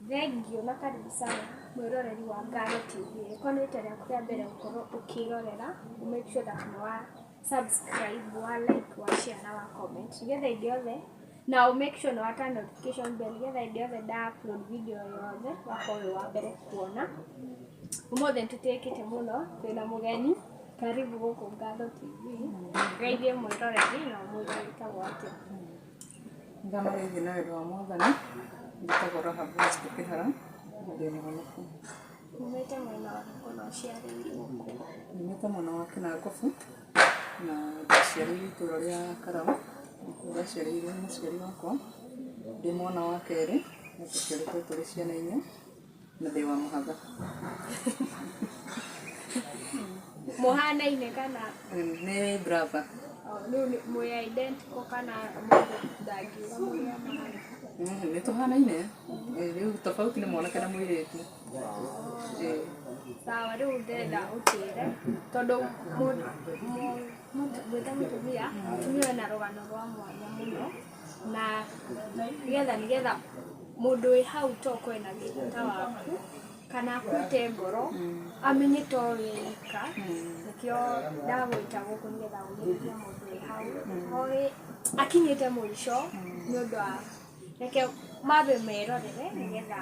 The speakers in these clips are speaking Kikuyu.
Thengiũ na karibu sana mwĩroreri wa Ngano TV. Rĩkwa nĩ rita rĩaku rĩa mbere gũkorwo ũkĩrorera, ũ make sure that nĩ wa subscribe, wa like, wa share na wa comment. Nĩgetha hĩndĩ yothe, na ũ make sure nĩ wa turn notification bell nĩgetha hĩndĩ yothe nda upload video o yothe, ũgakorwo wĩ wa mbere kuona. Ũmũthĩ nĩ tũtĩĩkĩte mũno, twĩna mũgeni, karibu gũkũ Ngano TV. Geithie mwĩroreri na ũmwĩre wĩtagwo atĩa. Nĩ ndĩrathoma gĩkĩ na wendo wa mwathani, njĩtagwo Rahabu Wanjikũ Kĩhara, na ndĩ mũhonokũ. Nyumĩte mwena wa Nakuru ciarĩirwo kuo. Nyumĩte mwena wa Kĩnangobu, na ndaciarĩirwo itũra rĩa Karaũ, nĩkuo ndaciarĩirwo nĩ mũciari wakwa, ndĩ mwana wa kerĩ, na tũciarĩtwo tũrĩ ciana inya. Mũthee wa mũhatha. Mũhanaine kana Nĩ brother. rĩu nĩ mwĩ identical kana mũndũ ndangiuga mũrĩa mahana. Mm, Nĩ tũhanaine. Eh, Rĩu tofauti nĩ mwanake na mũirĩtu. Eh, Sawa rĩu ndĩrenda ũtwĩre tondũ mũ- mũ- mũtu- ngwĩta mũtumia mũtumia wĩna rũgano rwa mwanya mũno Na nĩgetha nĩgetha mũndũ wĩ hau tokorwo ena thĩna ta waku, kana akuĩte ngoro, amenye to we wika, nĩkĩo ndagwĩta gũkũ nĩgetha ũmĩrĩrie mũndũ wĩ hau, oĩ akinyĩte mũico, nĩũndũ wa reke mambe merorere nĩgetha.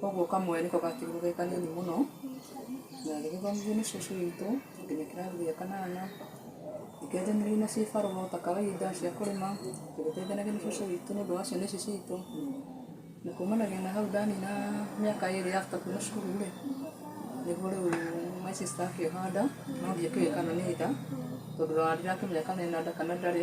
Koguo kamwe nĩko gakĩrĩ ge kanini mũno, na gagĩthomithio nĩ cũcũ witũ nginya kĩrathi gĩa kanana. Nĩ kenjanirio na cibarũa ta kawaida cia kũrĩma, tũgĩteithanagia na cũcũ witũ nĩ ũndũ wa ciana ici citũ. Na kumanagia na hau ndanina mĩaka ĩrĩ after kuma cukuru rĩ, nĩguo rĩu my sister akĩhanda, no ndiakĩũĩ kana nĩ nda, tondũ ona ndirakĩmenya kana ena nda kana ndarĩ.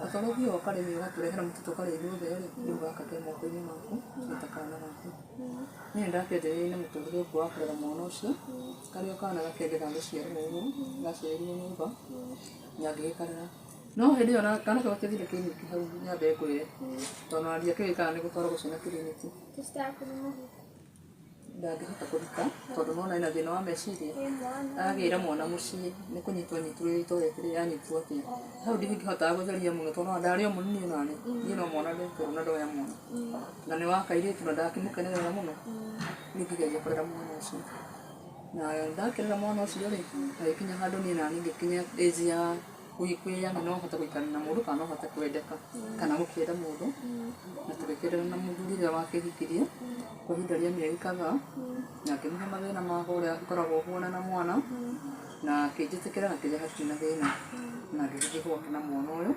Gatorũ thiĩ ũkarĩme ũgatũrehera mũtu tũkarĩa ithuothe rĩ, rĩu gaka ke moko-inĩ maku nĩ ta kana gaku. Niĩ nĩ ndakĩonjorithĩirie na mũtũrĩre ũkuo wa kũrera mwana ũcio, karĩ o kana gakĩenda gagĩciarwo o ũguo, gaciarirwo nĩ baba na ngĩgĩkarera. No hĩndĩ ĩyo kana kau gatiathire kiriniki hau nyambe ngwĩre, tondũ ona ndiakĩũĩ kana nĩ gũtwaragwo ciana kiriniki. ndangĩhota kũruta tondũ nĩwona ena thĩna wa meciria, agagĩra mwana mũciĩ nĩ kũnyitwo anyitwo ũrĩa itoĩ rĩrĩa anyitwo atĩ hau ndingĩhotaga gũtheria mũno tondũ nĩwona ndarĩ o mũnini onaniĩ, niĩ no mwana ndekũrwo na ndoya mwana, na nĩ wa kairĩtu na ndakĩmũkenerera mũno, rĩu ngĩgeria kũrera mwana ũcio, na ndakĩrera mwana ũcio rĩ, hagĩkinya handũ niĩ naniĩ ngĩkinya age ya Kũhikũĩya nĩ no ũhote gũikarania na mũndũ kana no ũhote kwendeka kana gũkĩenda mũndũ na tũgĩkĩendana na mũthuri rĩrĩa wakĩhikirie kwa ihinda rĩa mĩeri kadhaa na ngĩmũhe mathĩna makwa ũrĩa ngoragwo huana na mwana na akĩnjĩtĩkĩra na kĩrĩa hatirĩ na thĩna na ngĩgĩthiĩ gwake na mwana ũyũ.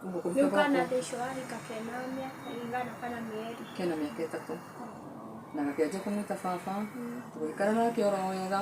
Ũguo kũhika gwakwa. Rĩu kana thaa icio wahika kena mĩaka ĩigana kana mĩeri? Kena mĩaka ĩtatũ na gakĩanjia kũmwĩta baba, tũgĩikara nake oro wega.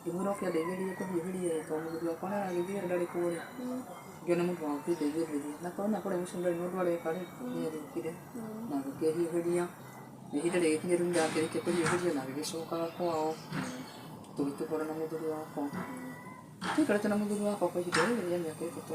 Ngĩmwĩra oke andeithĩrĩrie kũhiũhĩria ĩĩ tondũ mũthuri wakwa nĩ aragĩthiĩ rĩ, ndarĩ kuo rĩ, ngĩona mũndũ wa gũkĩndeithĩrĩria. Na ngona kũrĩa mũciĩ ndarĩ na ũndũ areka rĩ, niĩ njokire na ngĩkĩhiũhĩria. Na ihinda rĩgĩkinya rĩu nĩ ndakĩrĩkia kũhiũhĩria na ngĩgĩcokaga kwao tũgĩtũmana na mũthuri wakwa. Tũtiaikarĩte na mũthuri wakwa kwa ihinda rĩrĩ rĩa mĩaka ĩtatũ.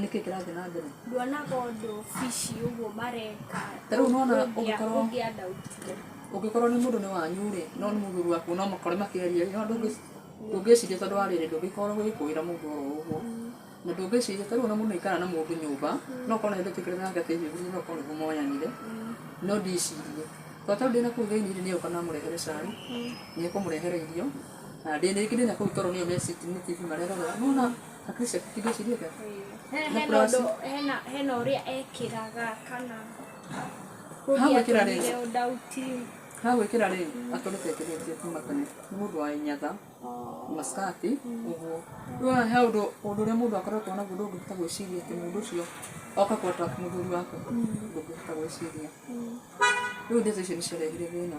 Nĩkĩ kĩrathiĩ na mbere? Nduonaga ũndũ obici ũguo mareka Ta rĩu nĩwona ũngĩkorwo- ũngĩandautirio. Ũngĩkorwo nĩ mũndũ nĩ wanyu rĩ, no nĩ mũthuri waku no mũkore makĩaria rĩ, nĩwona ndũngĩ- ndũngĩciria tondũ wa rĩrĩ, ndũngĩkorwo ũgĩkũĩra mũndũ oro ũguo. Na ndũngĩciria ta rĩu ona mũndũ aikara na mũndũ nyũmba, no ũkorwo na hĩndĩ ũtũĩkĩrĩte nake atĩ hihi ũguo no ũkorwo nĩguo moyanire, no ndicirie. Tondũ ta rĩu ndĩna kũu thĩiniĩ rĩ, nĩ egũka na amũrehere cai, nĩ ekũmũrehere irio, na ndĩ- rĩngĩ ndĩna kũu toro nĩo me sitting nĩ TV marerorera, nĩwona- Patricia, kitu shida yake. He- Na hena kurasi. ũndũ hena hena ũrĩa ekĩraga kana Hau kũria ekĩra rĩ? tũmire ũndauti Ha gwĩkĩra rĩ, akoretwo ekĩrĩtie kuma tene. Nĩ mũndũ wa inyatha, maskati, ũguo. Rĩu he ũndũ ũndũ ũrĩa mũndũ akoretwo naguo ndũngĩhota gwĩciria atĩ mũndũ ũcio oka kũ attack mũthuri waku. Ndũngĩhota gwĩciria. Rĩu ndeto icio nĩciarehire thĩna.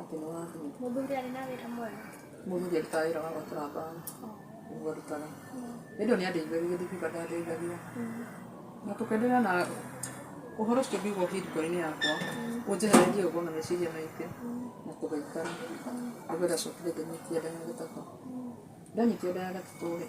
atĩ nĩ wa thimũ. Mũthuri arĩ na wĩra mwega. Mũthuri arutaga wĩra wa gwatura mbaũ nĩguo arutaga. Hĩndĩ ĩyo nĩ andeithagia gĩthiĩ kĩũmbe ndandeithagia. Na tũkenderea na ũhoro ũcio ngiuga ũthiĩ ndiboi-inĩ yakwa ũnjehererie ũgo na meciria maingĩ na tũgĩikara. Nĩguo ndacokire ngĩnyitia nda ya gatatũ. Ndanyitia nda ya gatatũ rĩ,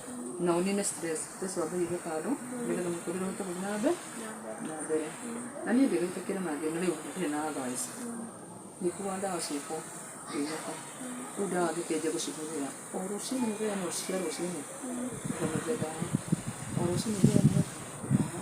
na ũnine stress stress wambe ũige kando nĩgetha mũtũrĩre ũhote gũthiĩ na mbere na mbere na niĩ ndĩgĩtĩkĩra na thĩna rĩu ndirĩ na advice ngĩkuaga ndawa ciakwa ngĩinũka rĩu ndawa ngĩkĩanjia gũcihũthĩra o rũcinĩ mũthenya no cia rũcinĩ ngamĩhe ndawa o rũcinĩ mũthenya no ndawa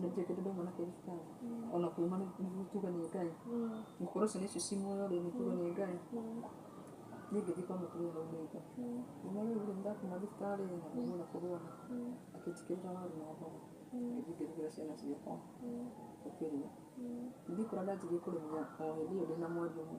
nĩtuĩke tondũ mwanake ti tawa ona kuuma nĩ nĩ tuge nĩ ngai gũkorwo ciana icio ci muoyo rĩ nĩ tuge nĩ ngai niĩ ngĩthiĩ kwa mũtumia hau maitho kuma rĩu rĩ ndakuma thibitarĩ na ndauma na kũrwara akĩnjĩkĩrĩra waru na mboga ngĩthiĩ ngĩrugĩra ciana ciakwa tũkĩrĩa ngĩthiĩ kũrĩa ndanjirie kũrĩmĩra o hĩndĩ ĩyo ndĩna mweri ũmwe.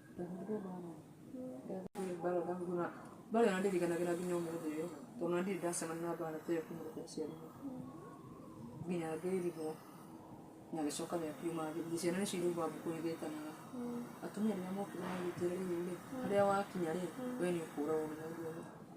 mbara ndahura mbara ĩyo ndirikanagira nginya ũmũthĩ ũyũ tondũ ndirĩ ndacemania na mbara ta ĩyo kuma rĩrĩa ndaciarirwo nginya ngĩrigwo na gĩcoka gĩa kiuma gĩthiĩ ciana nĩcio irauga ngũkũ igĩtanaga atumia rĩrĩa mokire magĩtwĩra rĩu rĩ harĩa wakinya rĩ we nĩ ũkũragwo nĩ mũndũ ũyũ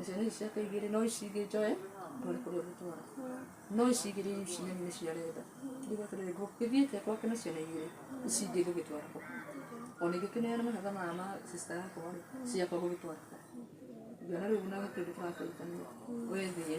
icio nĩ ciake igĩrĩ no ici ingĩ njoe ndware kũrĩa ũgũtwara no ici igĩrĩ ici nene nĩ cia renda nduga atĩrĩrĩ ngũgĩthiĩte gwake na ciana igĩrĩ ici ingĩ ngũgĩtwara kũ ona ingĩkĩneana mahatha maya ma sista yakwa rĩ ciakwa ngũgĩtwara kũ ngĩona rĩu na kĩndũ tũrateithania wethie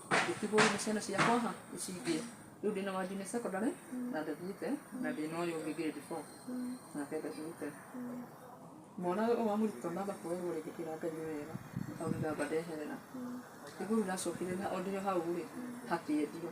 Ndĩtihũũru nĩ ciana ciakwa ha icingĩe. Rĩu ndĩ na wa junior secondary na ndathiĩte na ndĩ na ũyũ ũngĩ grade four nake ndathiĩte. Mwana ũyũ wa mũrutwo ndamba kũrerwo rĩngĩ kĩra Ngai nĩ wega tondũ nĩ ndamba ndeherera. Ndĩhũũru ndacokire na o ndĩ o hau rĩ hakĩendio.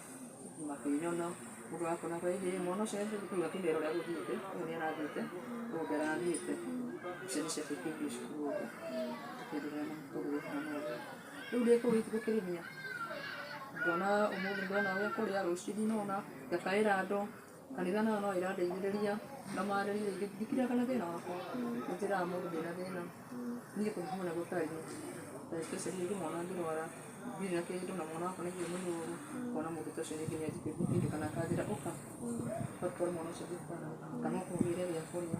Makĩnyona, mũndũ wa kũna kwĩ hĩ, mwana ũcio akĩigua kĩmero ũrĩa gũthiĩte, ũyũ nĩ arathiĩte, ũyũ ũngĩ arathiĩte, icio nĩ ciana ikĩingĩra cukuru ũguo, tũkĩenderea na mũtũrĩre ũcio na ũguo. Rĩu ndĩ kũu ĩ ti gũkĩrĩmia, ndona ũmũthĩ ndona ũyũ akũrĩa, rũciũ ndinona, ngakaĩra andũ. Kanitha nayo no ĩrandeithĩrĩria ngamarĩria rĩngĩ ndikiraga na thĩna wakwa nĩnjĩraga mũndũ ndĩna thĩna niĩ kũngĩkorwo na gũtariĩ ta especially rĩngĩ mwana angĩrwara ndirĩ na kĩndũ na mwana wakwa nĩaigue mũrũrũ ngona mũndũ ta ũcio rĩngĩ nĩanjĩkĩrĩria kĩndũ kana akanjĩra ũka ũgatwara mwana ũcio thibitarĩ kana ũkũgĩre gĩa kũrĩa.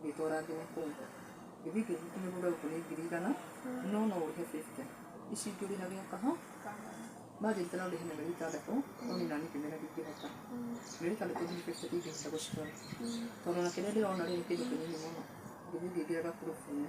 Ndĩtwara nginya kũu. Gĩthĩngũ gitũ kĩgũre gũkũ nĩ ngiri igana, no no ũrĩhe fifty. Ici ingĩ ũrĩhage o kaha. Margin tena ũrĩhe na mĩeri ĩtandatũ, no niĩ naniĩ ngĩmera ndingĩhota. Mĩeri ĩtandatũ nginya fifty ndingĩhota gũcitwara. Tondũ ona kĩrĩa ndĩrona rĩ, nĩ kĩndũ kĩnini mũno. Gĩthiĩ ngĩingĩraga proof -inĩ.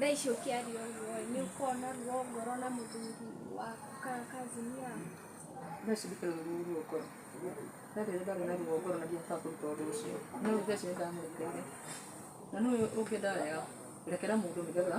thaa ici ũkĩaria ũguo nĩ ũkona ruo ngoro na mũthuri waku kana kazini yaku thaa ici ndikĩrĩ na ruo ruo ngoro no rĩrĩa ndarĩ na ruo ngoro na ndiahotaga kũruta ũndũ ũcio no rĩu thaa ici nĩ ndamũrekeire na nĩ ũĩ ũngĩenda wega rekera mũndũ nĩ getha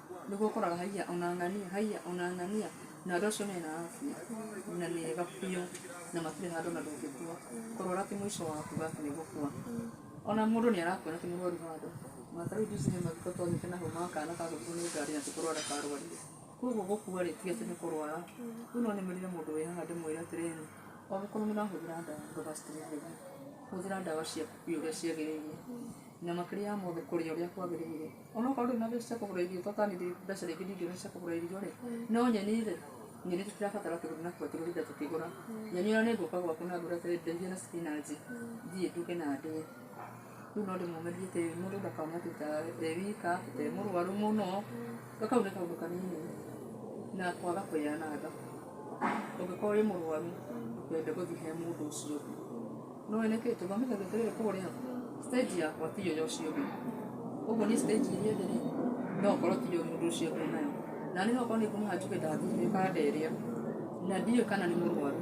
Nĩguo ũkoraga haiya ona ng'ania, haiya ona ng'ania, na andũ acio mena afya na nĩ ega biũ na matirĩ handũ ona ndũngĩkua ũkarwara atĩ mũico wa kuga atĩ nĩ gũkua. Ona mũndũ nĩ arakuona ti mũrwaru handũ. Ona ta rĩu juzi he mathiko twathiĩte naho ma kana kagũthirwo nĩ ngari na ti kũrwara karwarire. Kwoguo gũkua rĩ, ti atĩ nĩ kũrwara. Rĩu no nĩmĩrĩre mũndũ wĩ haha ndĩmwĩre atĩrĩrĩ, angĩkorwo nĩ ũrahũthĩra ndawa ndũga stress ũthiĩ. Hũthĩra ndawa ciaku biũ ũrĩa ciagĩrĩire. Na makĩrĩaga mothe kũrĩa ũrĩa kwagĩrĩire. Onokorwo ndũrĩ na mbeca cia kũgũra irio, tondũ nĩ ndĩrĩ mbeca rĩngĩ ndingĩona cia kũgũra irio rĩ, no nyeni rĩ, nyeni tũtirabatara kĩndũ na kũgũra kĩndũ hĩndĩ ĩrĩa tũkĩgũra. Nyeni ona nĩ ngũka gwaku na ngwĩre atĩrĩ ndeithia na spinach thiĩ nduge na ndĩe. Rĩu no ndĩmũmĩrie atĩ mũndũ ndakauma tuta e wika, e mũrwaru mũno. Ga kau nĩ kaũndũ kanini na kwaga kwĩyananga. Ũngĩkorwo wĩ mũrwaru ndũkende gũthiĩ he mũndũ ũcio ũngĩ. Nĩ ũĩ nĩkĩ? Tondũ wamenya atĩrĩrĩ kũrĩa stage yakwa ti ĩyo ya ũcio ũngĩ. Ũguo niĩ stage ĩrĩa ĩngĩ rĩ, no okorwo ti ĩyo mũndũ ũcio ũngĩ enayo. Naniĩ no okorwo nĩ ngũmũhe njuge ndathiĩ ĩkanderia na ndiũĩ kana nĩ mũrwaru.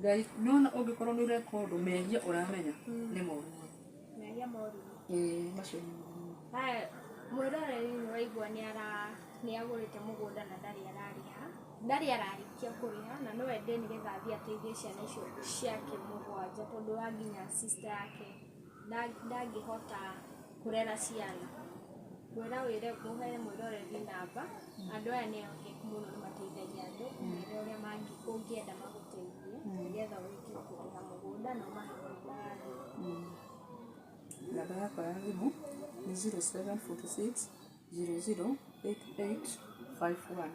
Ngai nĩwona ũngĩkorwo nĩ ũreka ũndũ mehia ũramenya nĩ moru mũno. Mehia moru. Ĩĩ macio nĩ moru mũno. Haya, mwĩroreri nĩ waigua nĩ ara nĩ agũrĩte mũgũnda na ndarĩ ararĩha, ndarĩ ararĩkia kũrĩha na no ende nĩgetha athiĩ ateithie ciana icio ciake mũgwanja tondũ wa nginya sister yake. ndangĩhota kũrera ciana. Ngwĩra wĩre ũhe mwĩroreri namba, andũ aya nĩ ehokeku mũno nĩ mateithagia andũ, ũmere ũrĩa ũngĩenda magũteithie nĩgetha ũrĩkie kũrĩma mũgũnda na ũmahe mũgũnda wagĩrĩru. Namba yakwa ya thimũ nĩ zero seven forty six zero zero eight eight five one.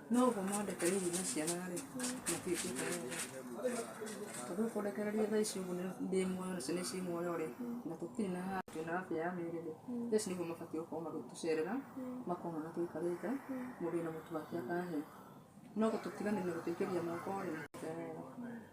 Noguo mwandĩka hihi na ciana rĩ matiĩkĩte wega tondũ kũrekereria thaa ici ũguo nĩ- ndĩ muoyo nacio nĩ ciĩ muoyo rĩ na tũtirĩ na handũ twĩna afya ya mĩĩrĩ rĩ thaa ici nĩguo mabatiĩ gũkorwo magĩtũcerera makona ũrĩa tũikarĩte mũndũ wĩna mũtu wake akahe no gũtũtiganĩria gũtũikĩria moko rĩ matiĩkĩte wega.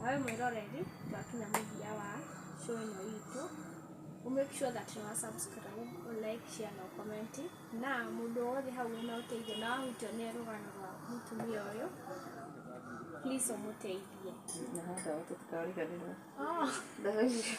Na we mwĩroreri, twakinya mũthia wa show ĩno itũ, ũ make sure that nĩ wa subscribe, ũ like, share na ũ comment. Na mũndũ o wothe hau wĩna ũteithio na wahutio nĩ rũgano rwa mũtumia ũyũ, please ũmũteithie. Na hau ndawa tũtikariganĩrwo. Oh. Ndawa icio.